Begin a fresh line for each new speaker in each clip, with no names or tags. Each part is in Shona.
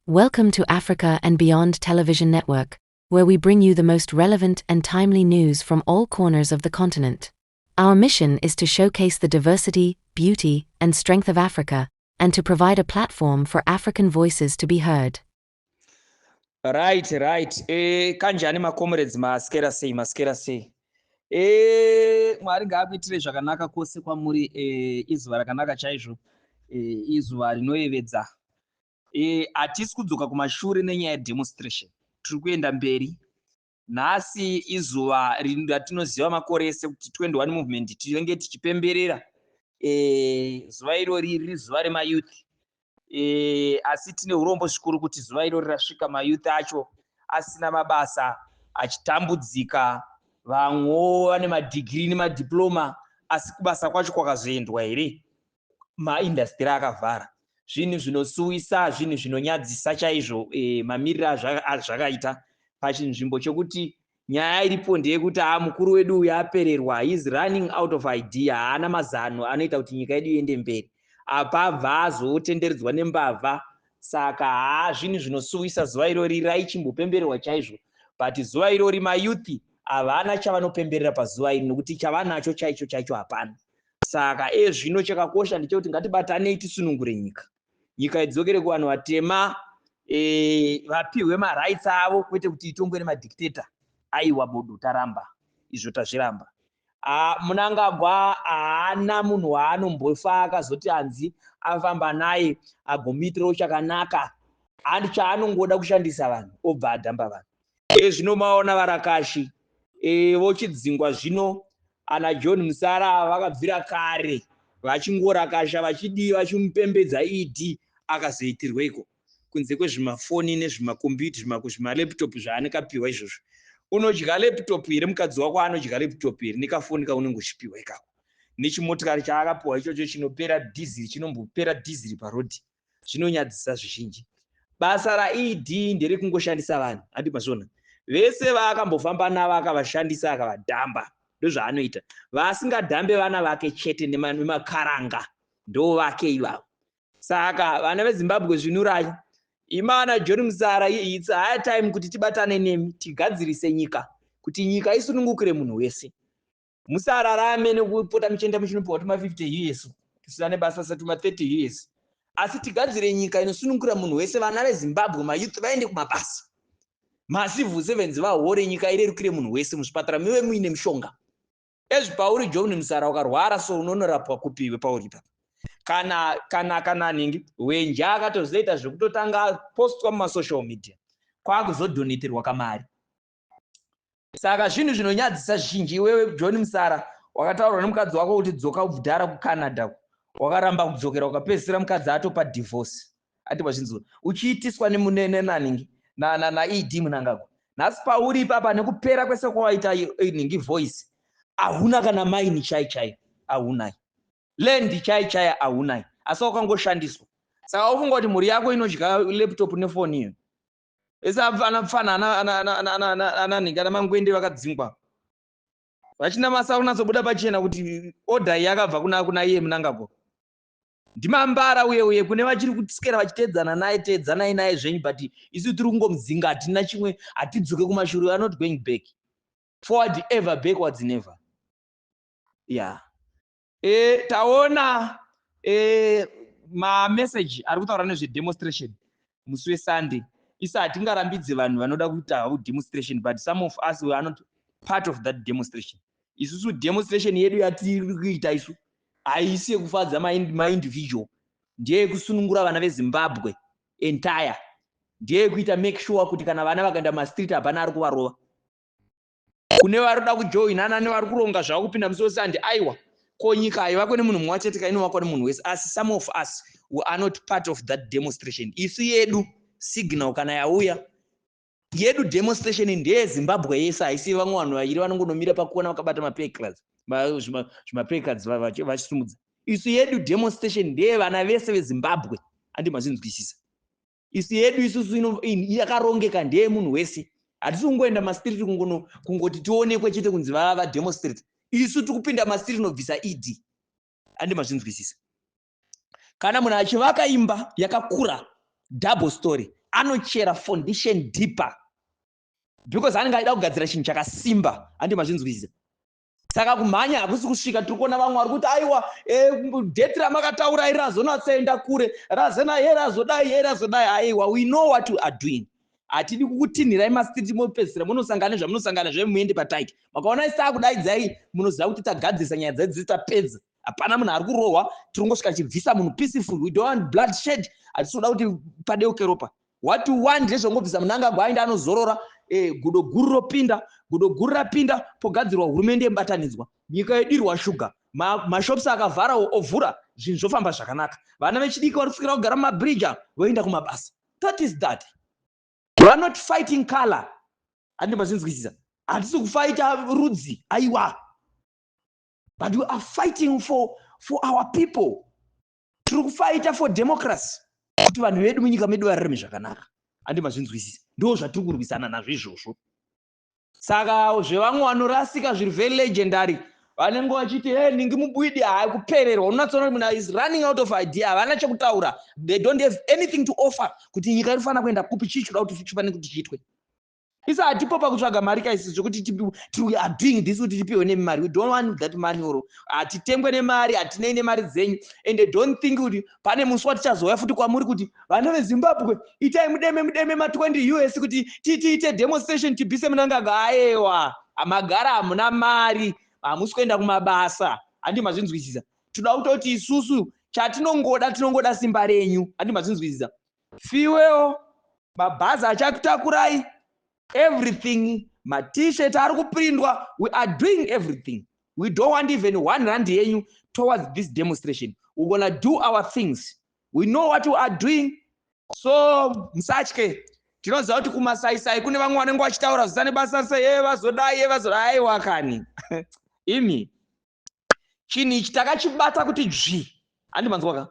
Welcome to Africa and Beyond Television Network, where we bring you the most relevant and timely news from all corners of the continent. Our mission is to showcase the diversity, beauty, and strength of Africa, and to provide a platform for African voices to be heard.
Right, right. Eh, kanjani ma comrades maskera sei, maskera sei. Eh, Mwari ngaakuitire zvakanaka kwose kwamuri eh, izuva rakanaka chaizvo eh, izuva rinoyevedza Eh, hatisi kudzoka kumashure nenyaya yedemonstration tiri kuenda mberi nhasi izuva ratinoziva makore ese kuti 21 movement tinenge tichipemberera eh, zuva irori riri zuva remayouth eh, asi tine urombo zvikuru kuti zuva irori rasvika mayouth acho asina mabasa achitambudzika vamwewo vane madhigiri nemadiploma asi kubasa kwacho kwakazoendwa here maindastiri akavhara zvinhu zvinosuwisa zvinhu zvinonyadzisa chaizvo e, mamiriro azvakaita pachinzvimbo chokuti nyaya iripo ndeyekuti a mukuru wedu uyu apererwa heis running out of idea haana mazano anoita kuti nyika yedu iende mberi apa abva azotenderedzwa nembavha saka haa zvinhu zvinosuwisa zuva irori raichimbopembererwa chaizvo but zuva irori mayouth havana chavanopemberera pazuva iri nokuti chavanacho chaicho chaicho hapana Saka iye zvino chakakosha ndechekuti ngatibatanei tisunungure nyika. Nyika idzokere kuvanhu vatema e, vapihwe marights avo kwete kuti itongwe nemadictator. Aiwa bodo taramba izvo tazviramba. Ah, munangagwa haana munhu waanombofa akazoti hanzi afamba naye agomuitirawo chakanaka and chaanongoda kushandisa vanhu obva adhamba vanhu Iye zvino maona varakashi e, vochidzingwa zvino ana John Musara ava vakabvira kare vachingorakasha vachidii vachimupembedza ED akazoitirweiko kunze kwezvimafoni nezvimakombiyuta zvimako zvimalaptop zvaanenge apiwa izvozvo unodya laptop here mukadzi wako anodya laptop here nekafoni kaunenge uchipiwa ikako nechimotikari chaakapiwa ichocho chinopera dhiziri chinombopera dhiziri parodhi zvinonyadzisa zvizhinji basa raED nderekungoshandisa vanhu handi mazviona vese vaakambofamba navo akavashandisa akavadhamba ndozvaanoita vaasingadhambe vana vake chete nemakaranga ndo vake ivavo saka vana vezimbabwe zvinurai imana john musara its high time kuti tibatane nemi tigadzirise nyika kuti nyika isunungukire munhu wese musararame nekupota muchienda muchinopiwa tuma 50 years kusina nebasa sa tuma 30 years asi tigadzire nyika inosunungura munhu wese vana vezimbabwe mayouth vaende kumabasa macivil sevens vahore nyika irerukire munhu wese muzvipatara mive muine mushonga ezvi pauri john musara ukarwara so unonorapwa kupiwe pauri pa kana kana kana ningi wenje akatozoita zvekutotanga postwa mumasocial media kwakuzodoneterwa kamari Saka zvinhu zvinonyadzisa zvizhinji iwewe John Msara wakataurwa nemukadzi wako kuti dzoka ubvudhara kuCanada uko wakaramba kudzokera ukapedzisira mukadzi atopa divorce ati wazvinzwa uchiitiswa nemunenanhingi na, na, na ed munangagwa nhasi pauri ipapa nekupera kwese kwawaita nhingi voice ahuna kana maini chai chai ahunai land chai chai ahunai asi wakangoshandiswa saka ufunga kuti mhuri yako inodya laptop nefoni iyo Ese ana pfana ana ana ana ana ana ana ana nhingi ana mangwende vakadzingwa. Vachina masa kunatsobuda pachena kuti order iyi yakabva kuna kuna iye munangagwa. Ndimambara uye uye kune vachiri kusikera vachiteedzana naye teedzanai naye zvenyu but isu tiri kungomudzinga hatina chimwe hatidzoke kumashure we are not going back forward ever backwards never. Yeah. Eh, taona eh, mameseji ari kutaura nezvedemonstration musi wesunday isa hatingarambidze vanhu vanoda kuita havo demonstration but some of us we are not part of that demonstration isusu demonstration yedu yatiri kuita isu haisi yekufadza maindividual ndeyekusunungura vana vezimbabwe entire ndeyekuita make sure kuti kana vana vakaenda mumastreet hapana ari kuvarova kune vari kuda kujoinana nevari kuronga zvavo kupinda musi wese handi aiwa ko nyika haivakwe nemunhu mumwe wachete ka inovakwa nemunhu wese asi some of us we are not part of that demonstration isu yedu signal kana yauya yedu demonstration ndeye zimbabwe yese haisi vamwe vanhu vairi vanongonomira pakuona vakabata mapeclards zvimapeclards vachisumudza isu yedu demonstration ndeye vana vese vezimbabwe andi mazvinzwisisa isi yedu isusu yakarongeka ndeye munhu wese hatisi kungoenda mastiriti kungono kungoti tionekwe chete kunzi vava vademostrate isu tikupinda mastiriti nobvisa ed andi mazvinzwisisa kana munhu achivaka imba yakakura double story anochera foundation deeper because anenge aida kugadzira chinhu chakasimba andi mazvinzwisisa saka kumhanya hakusi kusvika tiri kuona vamwe vari kuti aiwa eh, date ramakataura iri razonatsaenda kure razena ye razodai ye razodai aiwa we know what we are doing hatidi kukutinhirai masiti mopedzisira munosangana nezvamunosangana zve muende pataiti makaona isi takudaidzai munoziva kuti tagadzirisa nyaya dzedzi tapedza hapana munhu ari kurohwa tiri kungosvika chibvisa munhu peaceful we don't want blood shed hatisi kuda kuti padeuke ropa What you want ndezvongobvisa Mnangagwa aenda anozorora eh, gudo guru ropinda gudo guru rapinda pogadzirwa hurumende yemubatanidzwa nyika yedirwa shuga ma, mashops akavharawo ovhura zvinhu zvofamba zvakanaka vana vechidiki vari kusikira kugara mumabridge voenda kumabasa that is that we are not fighting color handi mazvinzwisisa hatisi kufaita rudzi aiwa but we are fighting for, for our people tiri kufaita for democracy kuti vanhu vedu munyika medu vararame zvakanaka andi mazvinzwisisa ndo zvatiri kurwisana nazvo izvozvo saka zvevamwe vanorasika zviri very legendary vanenge vachiti he ningi mubwidi hayi kupererwa unonatsoona kuti munhu is running out of idea havana chekutaura they don't have anything to offer kuti nyika iri fanira kuenda kupi chii chikuda kuti chifanire kuti chiitwe Isa hatipo pakutsvaga mari kaisi zvekuti we are doing this kuti tipihwe nemari we don't want that money or hatitengwe nemari hatinei nemari dzenyu and they don't think kuti pane musi watichazouya futi kwamuri kuti vana vezimbabwe itai mudeme mudeme ma20 us kuti titiite demonstration tibise munangagwa aewa magara hamuna mari hamusi kuenda kumabasa handi mazvinzwisisa toda kutoti isusu chatinongoda tinongoda simba renyu handi mazvinzwisisa fuel mabhazi achakutakurai everything matshirt ari kuprindwa we are doing everything we don't want even one rand yenyu towards this demonstration we're gonna do our things we know what we are doing so musatye tinoziva kuti kumasaisai kune vamwe vanenge vachitaura zvisane basa se ye vazodai ye vazodai aiwa kani imi chinhu ichi takachibata kuti dzvi handi manzwaka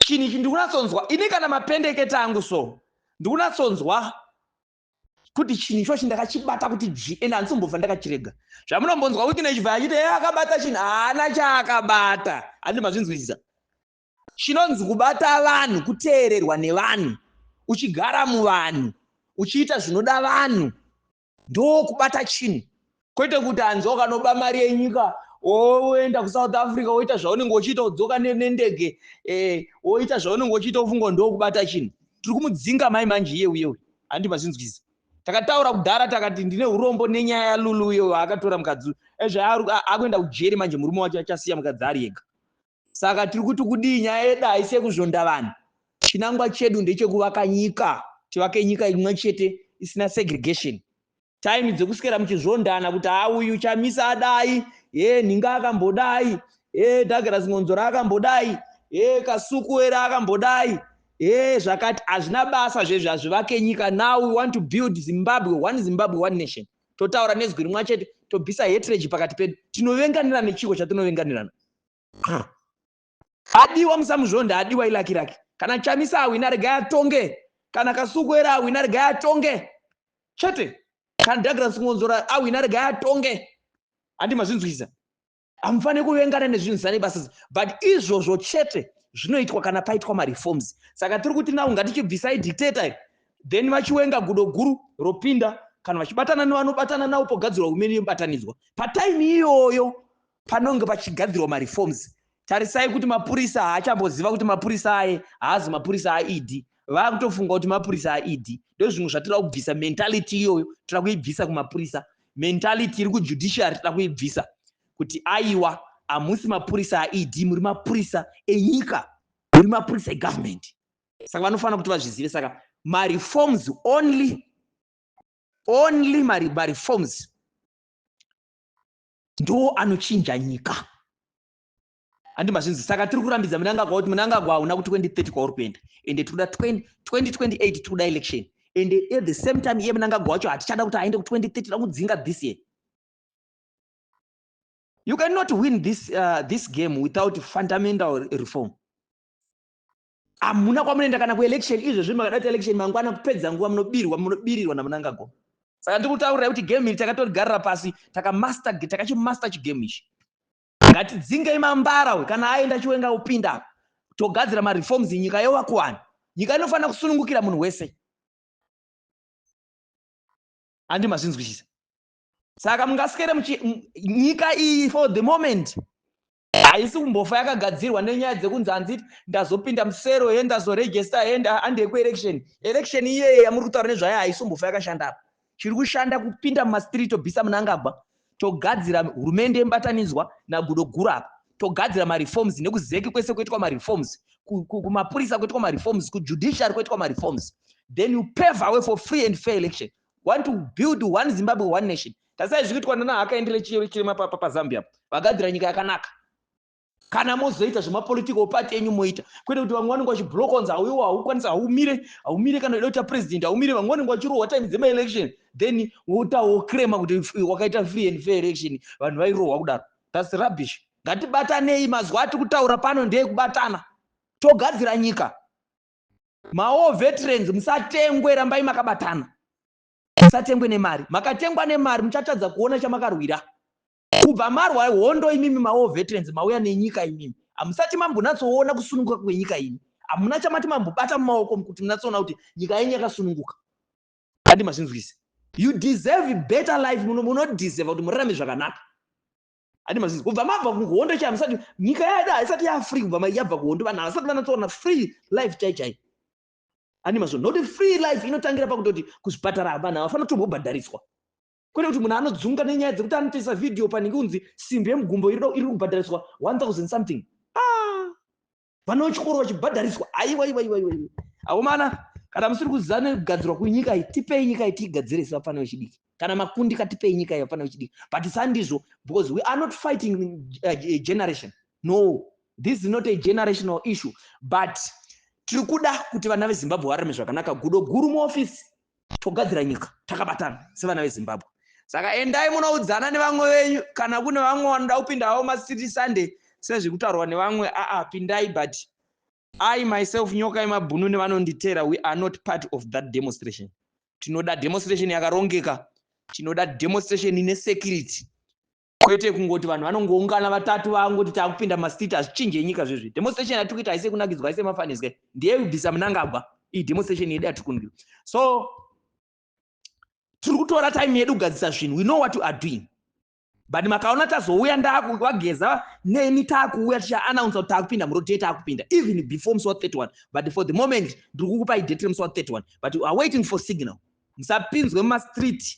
chinhu ichi ndikunatsonzwa ini kana mapendekete angu so ndikunatsonzwa kuti chinhu ichochi ndakachibata kuti dzvi ende handisombobva ndakachirega zvamunombonzwa wiki nechibva achiti e akabata chinhu haana chaakabata handi mazvinzwisisa chinonzi kubata vanhu kuteererwa nevanhu uchigara muvanhu uchiita zvinoda vanhu ndokubata chinhu kwete kuti hanzi wakanoba mari yenyika woenda kusouth africa woita zvaunenge uchiita udzoka nendege eh, woita e, zvaunenge uchiita ufunga ndokubata chinhu tiri kumudzinga mai manje iye uye uye handi mazvinzwiza takataura kudhara takati ndine urombo nenyaya yalulu uye waakatora mukadzi ezvayakuenda kujeri manje murume wacho achasiya mukadzi ari yega Saka tiri kuti kudii? Nyaya yedu haisi yekuzvonda vanhu. Chinangwa chedu ndechekuvaka nyika, tivake nyika imwe chete isina segregation. Time dzekuswera muchizvondana kuti haa uyu Chamisa adai, hee Nhinga akambodai, hee Douglas Mwonzora akambodai, hee Kasuku ere akambodai, hee zvakati hazvina basa zvezvi, hazvivake nyika. Now we want to build Zimbabwe, one Zimbabwe, one nation. Totaura nezwi rimwe chete, tobvisa hatred pakati pedu. Tinovenganirana nechiko chatinovenganirana? Adiwa musamuzvonda adiwa ilaki rake kana chamisa awina regai atonge kana kasuku era awina regai atonge chete kana Douglas Ngonzora awina regai atonge handi mazvinzwisa hamufanire kuvengana nezvinhu zvisane basa but izvozvo chete zvinoitwa kana paitwa mareforms saka tiri kuti nau ngatichibvisai dictator iri then vachiwenga gudo guru ropinda kana vachibatana nevanobatana navo pogadzirwa humeni yemubatanidzwa pataimi iyoyo Panonge pachigadzirwa mareforms tarisai kuti mapurisa haachamboziva kuti mapurisa aye haazi mapurisa aed vakutofunga kuti mapurisa aed ndozvimwe zvatira kubvisa mentality iyoyo tira kuibvisa kumapurisa mentality iri kujudiciary tira kuibvisa kuti aiwa hamusi mapurisa aed muri mapurisa enyika muri mapurisa egovernment saka vanofanira kuti vazvizive saka mareforms only only mareforms ndoo anochinja nyika handi mazvinzi saka tiri kurambidza munangagwa kuti munangagwa hauna kuti 2030 kwauri kuenda ende tikuda 2028 tikuda election ende at the same time iye munangagwa wacho hatichada kuti aende ku2030 tida kudzinga this year you cannot win this, uh, this game without fundamental reform hamuna kwamunoenda kana kuelection izvezvi makada kuti election mangwana kupedza nguva munobirwa munobirirwa namunangagwa saka ndiri kutaurira kuti game iri takatorigarira pasi takamaster takachimaster chigame ichi ngatidzingei mambara we kana aenda chiwenga upinda togadzira mareforms nyika yowakuwani nyika inofanira kusunungukira munhu wese andi mazvinzwisisa saka mungasikere nyika iyi for the moment haisi kumbofa yakagadzirwa nenyaya dzekunzi hanzi ndazopinda musero he ndazoregesta he handei kuelection election iyeye yamuri kutaura nezvayo haisi kumbofa yakashanda apa chiri kushanda kupinda mumastreet tobvisa munangagwa togadzira hurumende yemubatanidzwa nagudo guru apa togadzira mareforms nekuzeki kwese kuitwa mareforms kumapurisa kuitwa mareforms kujudiciary kuitwa mareforms then you pave away for free and fair election want to build one zimbabwe one nation tarisai zviri kuitwa nana hakaendere chirema pazambia vagadzira nyika yakanaka kana mozoita zvemapolitical party enyu moita kwete kuti vamwe vanenge vachibloka kunzi hauiwa haukwanisi haumire haumire kana uda kuita president haumire vamwe vanenge vachirohwa time dzemaelection then wotawo crema kuti wakaita free and fair election vanhu vairohwa kudaro thats rubbish ngatibatanei mazuva atiri kutaura pano ndeye kubatana togadzira nyika Mawar veterans musatengwe rambai makabatana. Musatengwe nemari. Makatengwa nemari muchatadza kuona chamakarwira. Kubva marwa hondo imimi mawar veterans mauya nenyika imimi. Hamusati mambonatsoona kusununguka kwenyika imi. Hamuna chamati mambobata mumaoko kuti munatsoona kuti nyika yenyu yakasununguka. Handi mazvinzwise. You deserve better life muno munodeserve kuti murarame zvakanaka. adi mazizi kubva mabva kuhondo chaivo musati nyika yaida haisati yafree kubva yabva kuhondo vanhu havasati vanatsoona free life chai chai adi mazizi not free life inotangira pakutoti kuzvipatara vanhu havafanira kutombobhadhariswa kwete kuti munhu anodzunga nenyaya dzekuti anotoisa vhidhiyo panenge unzi simbi yemugumbo iri kubhadhariswa 1000 something ah! vana vechikoro vachibhadhariswa aiwaiwaiwaiwai akomana kana musiri kuziva nekugadzirwa kwenyika iyi tipei nyika iyi tiigadzire isi vapfana vechidiki kana makundika tipei nyika iyi vapfana vechidiki but sandizvo because we are not fighting a uh, uh, generation no this is not a generational issue but tiri kuda kuti vana vezimbabwe vararame zvakanaka gudo guru muofisi togadzira nyika takabatana sevana vezimbabwe saka endai munoudzana nevamwe venyu kana kune vamwe vanoda kupinda havo masiti sunday sezvekutaurwa nevamwe aa pindai but i myself nyoka yemabhunu nevanonditera we are not part of that demonstration tinoda demonstration yakarongeka tinoda demonstration ine security kwete kungoti vanhu vanongoungana vatatu vangoti takupinda mastreet hazvichinje nyika zvezvi demonstration yatiri kuita haisi yekunakidzwa haisi yemafaniswe ndiye kubvisa munangagwa iyi demonstration yedu yatiri kundiwa so tiri kutora time yedu kugadzisa zvinhu we know what you are doing but makaona tazouya ndakuvageza neni takuuya tichaannounsa kuti takupinda murodie takupinda even before musi wa 31 but for the moment ndiri kukupai date remusi wa 31 but u are waiting for signal musapinzwe mumastreet